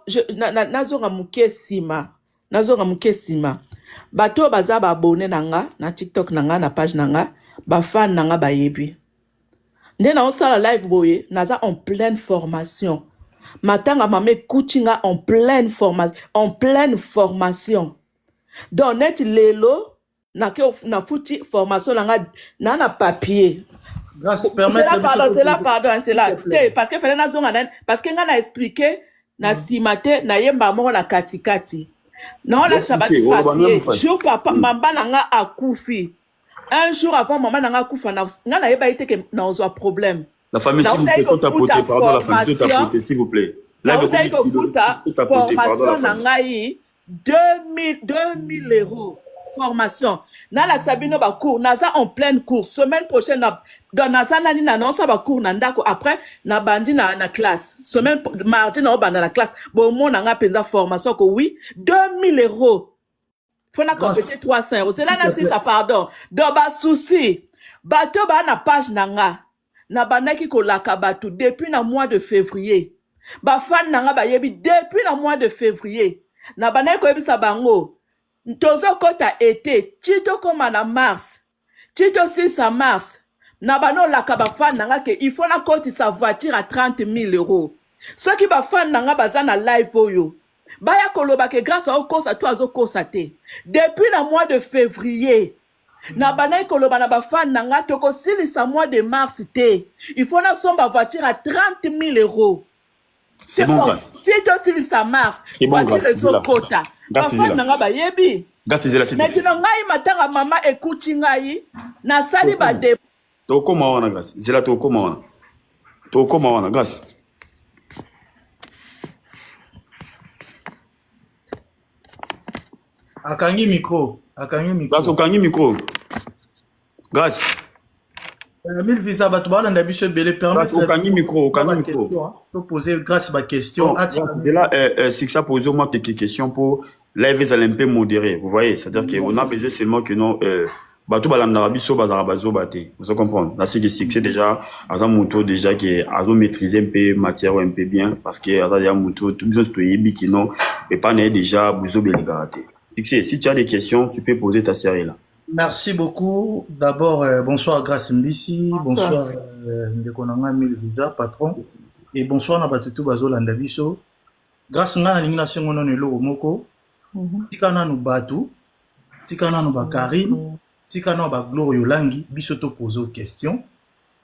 je, na, na, nazonga moke nsima nazonga moke nsima bato oyo baza baabone na nga na tiktok na nga na page na nga bafane na nga bayebi nde naosala live boye naza en pleine formation matanga mama ekuti nga en pleine formation en pleine formation donc neti lelo na ke na futi formation na nga na na papier grâce permettre zela pardon zela pardon hein, zela te parce que fallait nazonga na parce que nga na expliquer na mm. sima te na yemba moko na kati kati na ona sabati papier jour papa mm. mamba na nga akufi un jour avant mama na nga akufa na nga na yeba ite ke na ozwa problème la famille s'il vous plaît faut tapoter pardon la famille faut tapoter s'il vous plaît là de kofuta formation na ngai 2000 2000 euros formation nalakisa bino ba cours naza en pleine cours semaine prochaine na donc naza nani na naosa ba cours na ndako après nabandi na, na classe semaine pro- mardi naobanda na classe bomona nga mpenza formation ko oui 2000 euros fo na Grâce. compete 300 euros zela Tout à fait. nasisa pardon donc basusi bato baa na page na nga nabandaki kolaka bato depuis na mois de fevrier bafani na nga bayebi depuis na mois de fevrier nabandaki koyebisa bango tozokɔta ete ti tokóma na mars ti tosisa mars na banda olaka bafani na nga ke il faut nakotisa voiture ya 30 000 euros soki bafani na nga baza na live oyo baya koloba ke grâce aokosa to azokosa te depuis na mois de fevrier na bandaki koloba na bafane na nga tokosilisa mois de mars te il faut nasomba voiture ya 30 000 euros C'est bon, Grace. ti tosilisa mars C'est bon, voiture Grace, zela. ezokota Grace, bafane zela. na nga bayebi Grace ezela sisi. mais kino ngai matanga mama ekuti ngai nasali Tokoma. bade Tokoma wana Grace. Zela tokoma wana. Tokoma wana Grace. akangi micro akangi micro Grace okangi micro Grace euh, mille visa bato balanda biso ebele permetreokangi micro okangi micro to pose Grace ba question atidela oh, euh, euh, sixa pose moi quelques questions mpo live ezala mpe modéré vous voyez c'est à dire que on a besoin seulement que non euh, Bato balandaka biso bazalaka bazoba te. Ozo comprendre? Na siki succès dejà aza mutu oyo dejà ke azo maitriser mpe matière oyo mpe bien parce que aza dejà mutu oyo biso nionso toyebi que non epai na ye dejà buzoba elekaka te. Succès, si tu as des questions, tu peux poser ta sœur est là. Merci beaucoup. D'abord, euh, bonsoir Grace Mbisi, bonsoir euh, ndeko na ngai Mil Visa, patron, et bonsoir na bato tout bazolanda biso. Grace ngai nalingi nasengo nano eloko moko, tika nanu bato Tika nanu ba carine tika nanu ba gloria olangi biso to pose yo question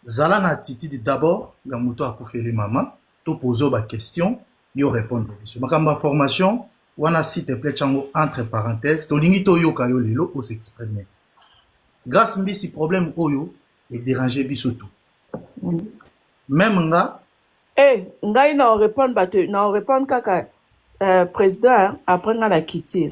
zala na attitude d'abord ya mutu akufeli maman to pose yo ba question yo repondre biso makambo ya formation wana s'il te plait tia yango entre parenthèse tolingi toyoka yo lelo o s'exprimer grace mbisi problème oyo e deranger biso tout meme nga Eh, ngai na repondre bato, na repondre kaka euh, president après ngai na kiti.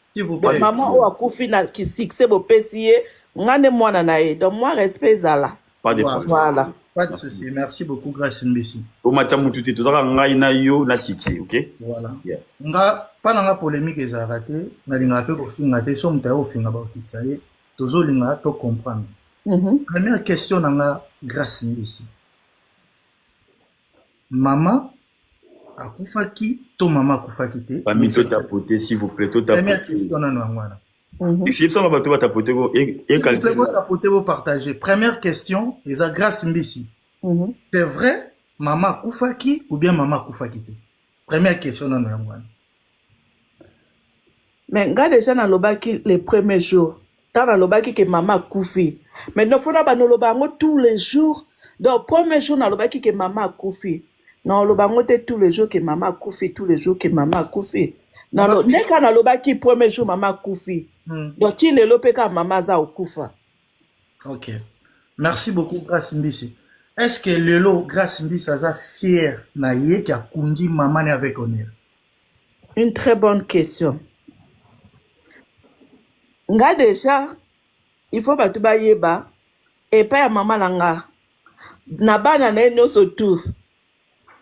S'il vous Donc plaît. maman oyo akufi na ki succès bopesi ye nga nde mwana na ye. Donc moi respect ezala. Pas de Voilà. problème. Voilà. Pas de souci. Merci beaucoup Grace Mbisi. Omatisa mutu te, tozaka ngai na yo na succès, ok? Voilà. Yeah. Nga pa na nga polemique ezalaka te, nalingaka pe kofinga te, so moto aye kofinga bakokitisa ye, tozolinga to comprendre. Mhm. Première question na nga Grace Mbisi. Maman akufaki to maman akufaki te? Famille to tapoter s'il vous plaît, to tapoter. Première question nanu yango wana. Mhm. Esi yebisa ba to ba tapoter ko et et calcul. Bo tapoter bo partager. Première question eza grâce mbisi. Mhm. C'est vrai maman akufaki ou bien maman akufaki te? Première question nanu yango wana. mais nga dejà nalobaki le premier jour tango nalobaki ke mama akufi mais no fona banoloba yango tous les jours donc premier jour nalobaki ke mama akufi naoloba yango te tous les jours ke mama akufi tous les jours ke mama akufi Nalo- nde kaka nalobaki premier jour mama akufi Hmm. donc ti lelo mpe kaka mama aza okufa ok merci beaucoup grace mbisi est ce que lelo grace mbisi aza fier na ye ke akundi mama ne avec honneur Une très bonne question. Nga deja il faut batu bayeba epai ya mama na nga na bana na ye nyonso tout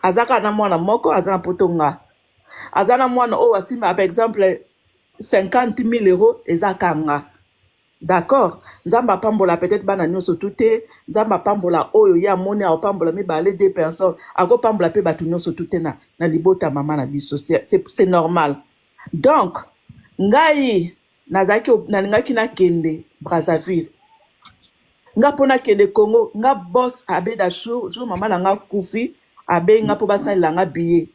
aza kaka na mwana moko aza na poto nga aza na mwana oyo asimba par exemple 50 000 euros eza kanga D'accord nzambe apambola peut etre bana nioso tout te nzambe apambola oyo ye amoni apambola mibale de personne ako pambola pe batu nioso tout te na na libota mama na biso c'est normal donc ngai nazalaki nalingaki nakende Brazzaville nga mpo nakende Congo nga boss abeda jour jour mama na nga kufi abengi nga mpo basalela nga billet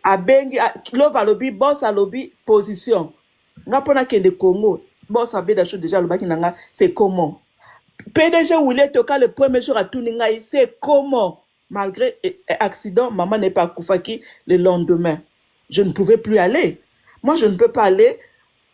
abengi lova alobi boss alobi position Nga pona kende Congo boss abeda show dejà alobaki na nga c'est comment pdg Willy etoka le premier jour atuni ngai c'est comment malgre eh, eh, accident maman n'est pas akufaki le lendemain je ne pouvais plus aller moi je ne peux pas aller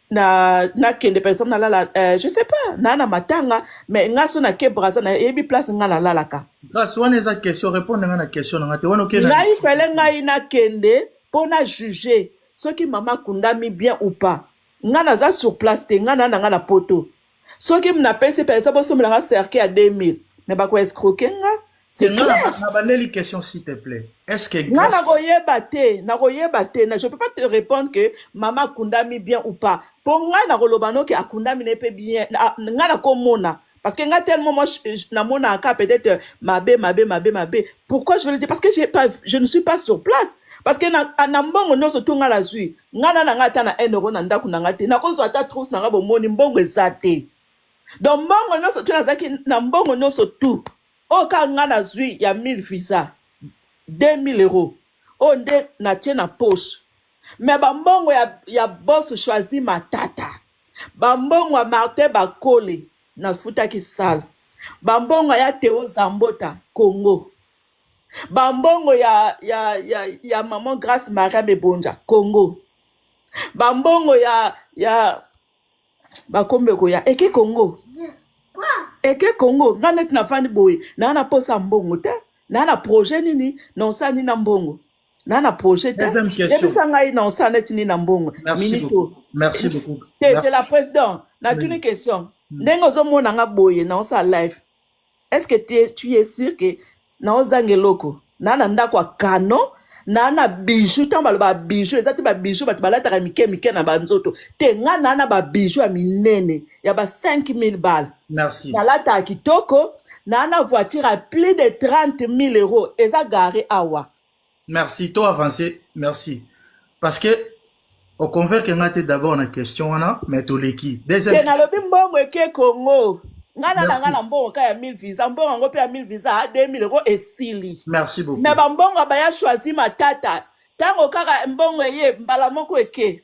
na na kende par exemple nalala euh, je sais pas na na matanga mais nga so na ke braza na yebi place nga nalalaka grâce wana eza question répondre nga na question na nga te wana okenda ngai fele ngai nakende mpo na juge Soki mama akundami bien ou pas nga naza sur place te nga na nanga na poto soki mna pesi penza bosombela nga cercueil ya 2000 mais bako escroquer nga c'est clair na bandeli question s'il te plaît est ce que nga nako yeba te nako yeba te na je peux pas te répondre que mama akundami bien ou pas po nga nako loba noki akundami na pe bien nga nako mona Parce que nga tellement moi na mona aka peut-être euh, mabe mabe mabe mabe. Pourquoi je veux le dire parce que j'ai pas je ne suis pas sur place. Parce que na na mbongo nyoso to nga la zui. Nga na na nga ata na 1 euro na ndaku na nga te. Na ko zwa ata trousse na nga bo moni mbongo eza te. Donc mbongo nyoso to nazaki na mbongo nyoso tout. Oyo ka nga na zui ya 1000 visa 2000 euros. Oyo nde na tie na poche. Mais ba mbongo ya ya boss choisi matata. Bambongo ya Martin Bakole nafutaki salle. Bambongo ya Theo Zambota Congo. Bambongo ya, ya, ya, ya maman Grace Maria Mebonja Congo. Bambongo ya, ya bakombe koya eke Congo. eke congo nga neti nafandi boye naa na posa mbongo te naa na projet nini naosala nini na mbongo na na projet te Deuxième question. yebisa ngai na osala neti nini na mbongo Merci minute beaucoup. oyo Merci beaucoup. te te Merci. la président natuni Mm. question Mm. ndenge ozomona nga boye na osala live est ce que tu es- tu es sûr que na ozanga eloko na na ndako ya canon na na bijou ntango baloba bijou eza te babijou bato balataka mike mike na banzoto te nga na na babijou ya minene ya ba 5000 bale Merci. Nalata kitoko na na voiture à plus de 30 000 euros eza garé awa. Merci to avancer merci parce que au convaincre nga te d'abord na question wana mais to leki. Deuxième. Te nalobi mbongo eke Congo. Nga na nga na mbongo ka ya 1000 visa mbongo yango pe ya 1000 visa a 2000 euros esili. Merci beaucoup. Mais ba mbongo ba ya choisi matata tango kaka mbongo eye mbala moko eke.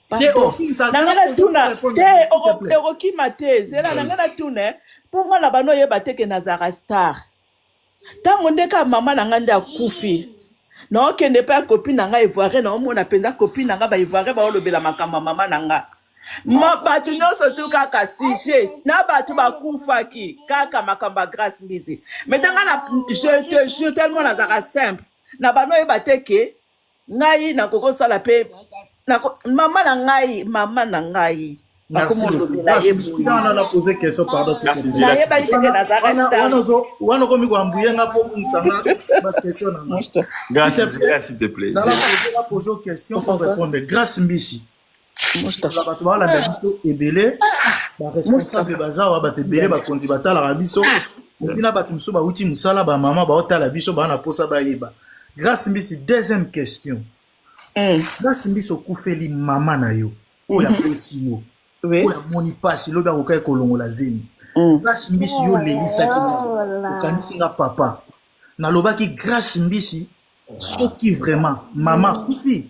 te o- na ngai natuna te oko- okokima te zela na ngai natuna eh, mpo ngai na bana oyeba te ke nazalaka star ntango nde kaka mama na ngai nde akufi naokende epai ya kopi na ngai ivoirien naomona mpenza kopi na ngai baivoirien baolobela makambo ya mama na ngai Ma- bato nyonso tu kaka sujet na bato bakufaki kaka makambo ya grace mbizi metanga na je te jure tellement nazalaka simple na bana oyeba te ke ngai nakokosala mpe nako, mama na ngai mama na ngai wana okomi koambuye nga mpo obungisa nga bakestion na ngapoze question orepondre grace mbisi bato balanda biso ebele baresponsable bazawa bato ebele bakonzi batalaka biso epi na bato mosusu bauti mosala bamama baotala biso baa na mposa bayeba grace mbisi deuxième question hmm. grace mbisi okufeli mama na yo oyo mhm. aboti yo oyo amoni mpasi lobi akokaki kolongola zemi hmm. grace mbisi yo olelisaki oh okanisi nga papa nalobaki grace mbisi soki vraiment mama akufi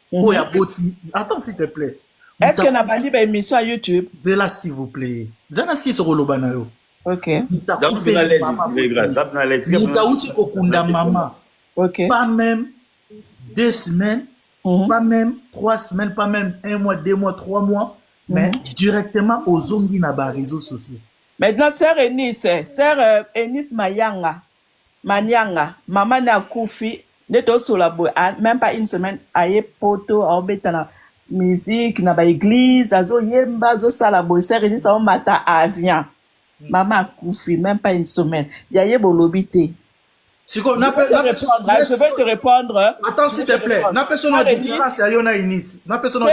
Mhm. oyo aboti attends s'il te plaît est ce que na bandi ba émission ya youtube zela s'il vous plaît zana si sokoloba na yo okay mutakufeli mama mutauti kokunda mama okay pas même deux semaines mm -hmm. pas même trois semaines pas même un mois deux mois trois mois mm -hmm. mais mhm. directement ozongi na ba réseaux sociaux maintenant sœur Eunice sœur euh, Eunice Mayanga Manianga maman ne akufi nde tosola boye a meme pas une semaine aye poto aobeta na musique na ba eglise azo yemba azo sala boye sœur Eunice aomata avion maman akufi meme pas une semaine ya ye bolobi te Siko, je na vais pe te na pe répondre hein, je vais te répondre attends s'il te plaît, na pe sona différence ya yo na Eunice. napesa na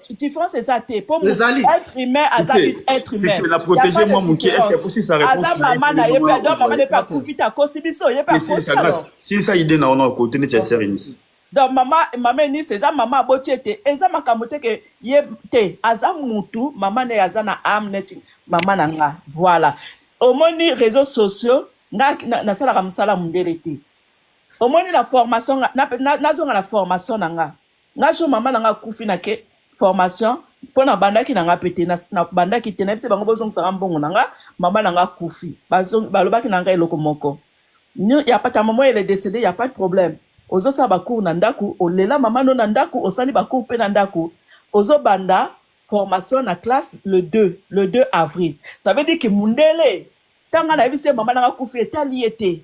différence eza te po être humain aza être humain moke aza mama na ye mpe ado mama na ye mpe akufi te akosi biso ye mpe akosilisa ide na ona kote neti ya serenisi donc mama mama enisi eza mama aboti ete eza makambo te ke ye te aza mutu mama na ye aza na ame neti mama na nga voilà omoni réseaux sociaux nga nasalaka mosala mondele te omoni na formation nazonga na formation na nga nga so mama na nga akufi na ke formation mpo na bandaki na nga mpe te na na- bandaki te nayebisi bango bozongisa nga mbongo na nga mama na nga akufi Bazong- balobaki na nga eloko moko Nyo- ya pata mama ele decede ya pas de problème ozosala bacour na ndako olela mama no na ndako osali bacour mpe na ndako ozobanda formation na classe le 2 le 2 avril ça veut dire que mundele tanga nayebisi ye mama na nga akufi etali ye te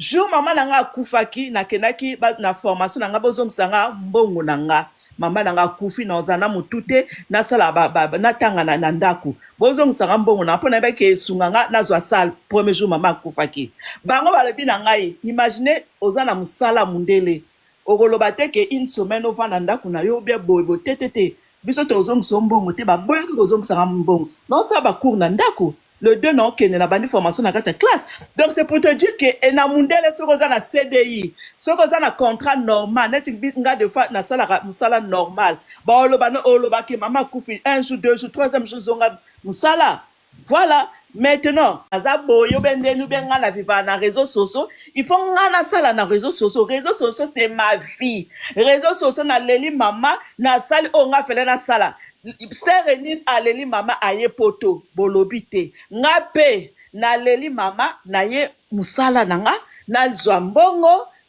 Jour maman na nga akufaki na kendaki na formation na nga bozongisa nga mbongo na nga mama na nga akufi na ozala na motu te nasala natanga na, na ndako bozongisanga mbongo na mpo nayebaki esunga nga nazwa sale premier jour mama akufaki bango balobi na ngai imagine oza na mosala mundele Okoloba te que une semaine ovanda ndaku na yo ou bien boye boye te te te biso tozongisa yo mbongo te ba boyaki kozongisa nga mbongo nao sala ba cours na ndaku le deux nao kende na bandi formation na kati ya classe donc c'est pour te dire que et na mundele soki oza na CDI soki oza na contrat normal neti nga de fois na salaka musala normal ba oloba oloba que maman akufi un jour deux jour troisième jour zonga musala Voilà maintenant aza boye obe ndeni obe nga na viva na reseau soso il faut nga na sala na reseau soso reseau soso c'est ma vie reseau soso na leli mama na sali oyo nga fele na sala sœur Eunice aleli mama aye poto bolobi te nga pe na leli mama na ye musala na nga na zwa mbongo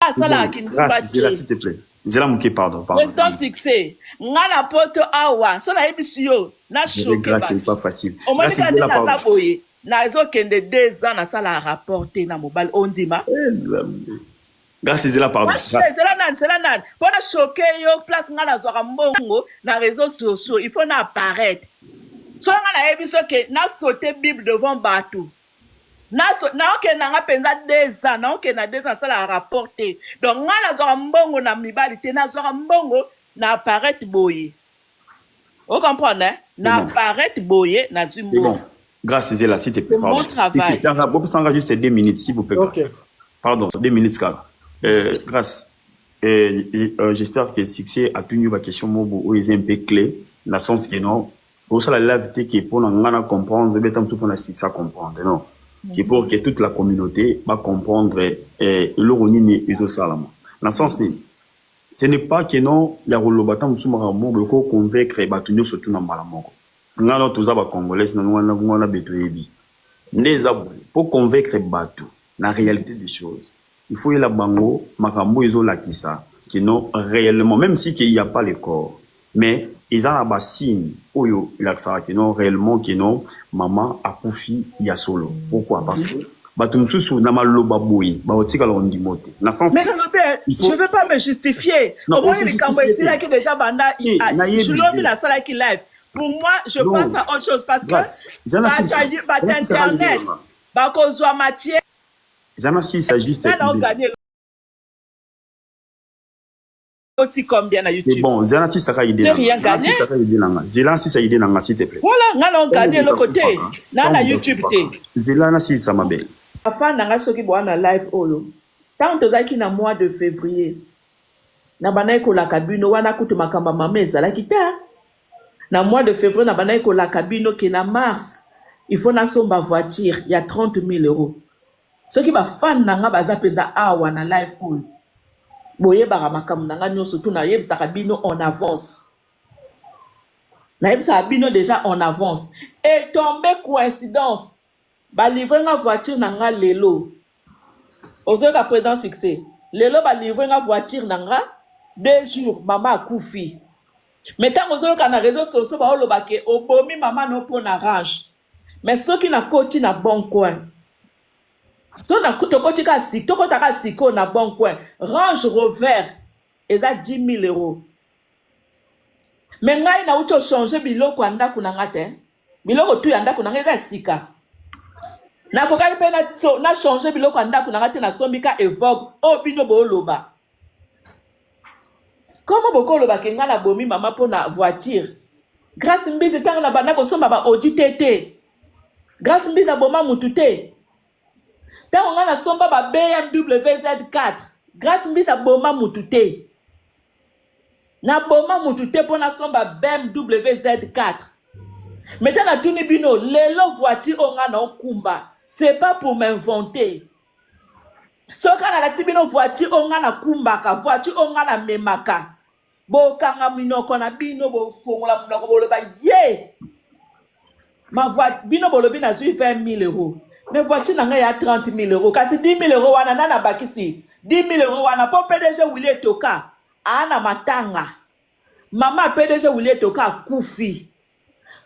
asalaka kindumba te zela moke pardon pardon succès nga na poto awa so nayebisi yo na omoni kaka ndenge aza boye nazokende deux ans nasala rapport te na mobali ondima eh, grâce ezela pardon ezela nani zela nani mpo na choke yo place ngai nazwaka mbongo na réseau sociaux il faut na apparaître soki ngai nayebi soki na saute bible devant bato naokende nanga mpenza deux ans naokende na deux ans nasalaka rapport te donc ngai nazwaka mbongo na mibali te nazwaka mbongo na apparete boye ocomprendre eh? na apparete boye nazwi mbongo Grâce Zela, s'il te plaît. Pardon. Si c'est un rap, ça juste deux minutes, s'il vous plaît. Okay. Pardon, deux minutes, car. Euh, grâce. Euh, euh, J'espère que succès a tenu ma question, Mobo, ou est un peu clé, dans le sens que non, Bosala live te ke pona nga na comprendre beta mutu pona six a comprendre non c'est pour que toute la communauté ba comprendre eh, eloko nini ezosalama na sens nini ce n'est pas que non ya koloba ta mosusu makambo moko boye ko convaincre bato nyonso tu na mbala moko nga no toza ba congolais na nga na beto yebi nde eza boye po convaincre bato na réalité des choses Il faut oyela bango makambo oyo ezo lakisa que non reellement meme si que il ya pas le corps mais eza na ba signe oyo elakisaka que non reellement que non maman akufi ya solo pourquoi parce que bato mosusu na maloba boye bakotikala ondimo te na sens mais non te je veux pas me justifier omoni likambo esilaki déjà banda julomi nasalaki live pour moi je non. pense à autre chose parce que bato internet bakozwa matière oti combien na youtube bon zela na sisa ka idée rien gagné sisa ka idée nanga zela na sisa idée nanga s'il te plaît voilà nga na gagné loko te na na youtube te zela na sisa mabe papa nanga soki boa na live oyo tant tozalaki na mois de février na bandaki kolaka bino wana kutu makambo ya mama ezalaki te Na mois de fevrier na bandaki ko laka bino que na mars il faut na somba voiture ya 30 mille euros. Soki ba fan na nga baza penza awa na live oyo bo yebaka makambo na nga nioso tout na yebisaka bino en avance. Na yebisaka bino dejà en avance et tombe coincidence Ba livre nga voiture na nga lelo ozo yoka president succès lelo ba livre nga voiture na nga deux jours maman akufi mais tango ozo yoka na reseaux sociaux bao loba ke obomi maman no po na range mais soki na koti na bon coin to na tokoti ka sik tokota ka siko na bon coin range rover eza 10000 euros mais ngai na uti o changer biloko ya ndaku na nga te Biloko tout ya ndaku na nga eza ya sika. Na kokaki pe na changer biloko ya ndaku na nga te na sombi ka Evoque oyo bino bo loba. Comment bo ko loba ke nga na bomi maman po na voiture? Grace Mbizi tangu na banda ko somba ba Audi te te. Grace Mbizi a boma mutu te. Tangu nga na somba ba BMW Z4 Grace Mbizi a boma mutu te. Na boma mutu te po na somba BMW Z4. Mais ta na tuni bino lelo voiture oyo nga nao kumba c'est pas pour m'inventer. Soki ka na lakisi bino voiture oyo nga na kumbaka, voiture oyo nga na memaka, bo kanga minoko na bino, bo fongola munoko bo loba ye! Ma voiture, bino bolobi nazui 20.000 euros. Mais voiture na ngai ya 30.000 euros. Kasi 10.000 euros wana nani abakisi 10.000 euros wana po PDG Willy Etoka aa na matanga. Mama ya PDG Willy Etoka akufi.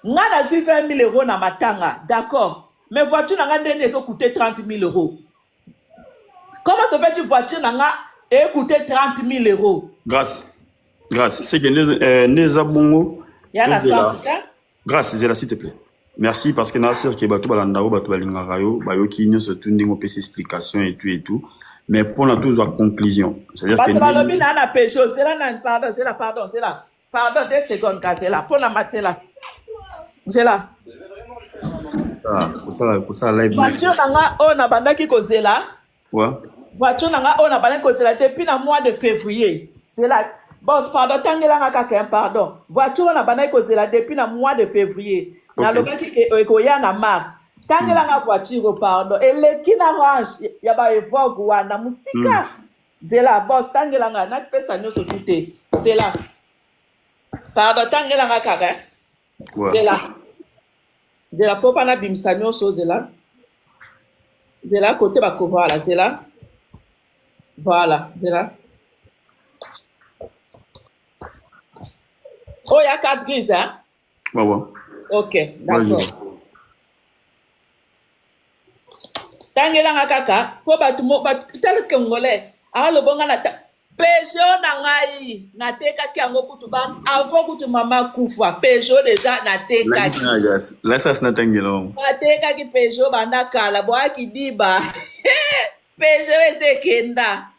Nga nazui 20.000 euros na matanga. D'accord. Mais voiture na nga nde nini ezo coute 30.000 euros. Comment se fait-il voiture na nga e coute 30.000 euros? Grace, Grace, seke nde eh, nde eza bongo. Ya na Tozela. sens ka. Grace zela s'il te plaît. Merci parce que na sœur que bato balanda yo bato balingaka yo bayoki nyonso tout ndenge opesi explication et tout et tout mais mpona tozwa conclusion c'est-à-dire bato balobi na na pejo zela na pardon zela pardon zela pardon deux secondes ka zela mpona matela zela ah, kosala kosala live voiture na nga oyo nabandaki kozela Quoi? Voiture na nga oyo na bana kozela depuis na mois de février. C'est la boss pardon tangela nga kaka hein, pardon. Voiture na bana kozela depuis na mois de février. Okay. Na lobaki ke ekoya na mars. Tangela nga voiture pardon. Eleki na range ya ba evoque wana musika. Mm. Zela boss tangela nga na pesa nyoso tout te. Zela. Pardon tangela nga kaka. hein. zela zela po bana bimisa nyonso zela zela kote bako voilà zela voilà zela oyo ya carte grise hein? wawa ok d'accord tangelanga kaka po bato bato tala congolais alobonga na Peugeot na ngai natekaki yango kutu ba avant kutu mama akufa Peugeot deja natekaki lasasi natangela yango natekaki Peugeot banda kala boyaki diba Peugeot eza ekenda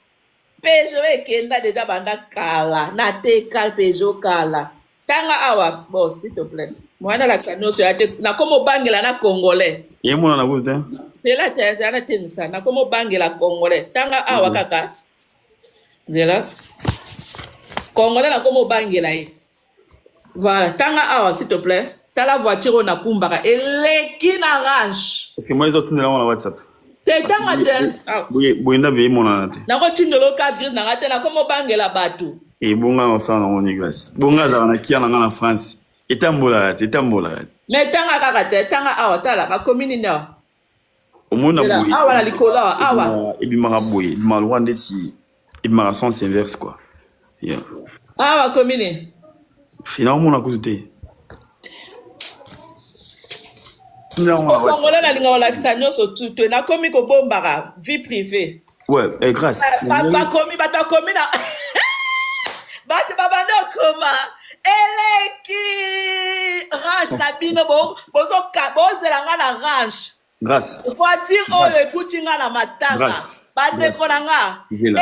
Peugeot ekenda deja banda kala nateka Peugeot kala tanga awa bon s'il te plaît mwana la nyonso ya te nakoma obangela na congolais ye mwana na kutu te zela te zela na tenisa nakoma obangela congolais tanga awa kaka mm -hmm. zela congolais na komo obangela ye voilà tanga awa s'il te plaît tala voiture oyo nakumbaka eleki na range parce que moi ezotindela yango na whatsapp te tanga te ah. boye ndabe emonana te nakotindola oka grise na ngai te nakomo obangela bato ebonga na osala nango niglas bonga azala na kia na ngai na france etambolaka te etambolaka te me tanga kaka te tanga awa tala bakomi nini awa omona boye awa na likolo awa awa ebimaka boye ebimaka lokola ndeti ebimaka sens inverse quoi yeah. awa komi ne fina omona kutu te kongola nalingaka olakisa nyonso tutue nakomi kobombaka vie privée Ouais, eh, grâce. Eh, bato bakomi bato bakomi na bato babanda okoma eleki range na bino bozela nga na range voiture oyo ekuti nga na matanga bandeko na nga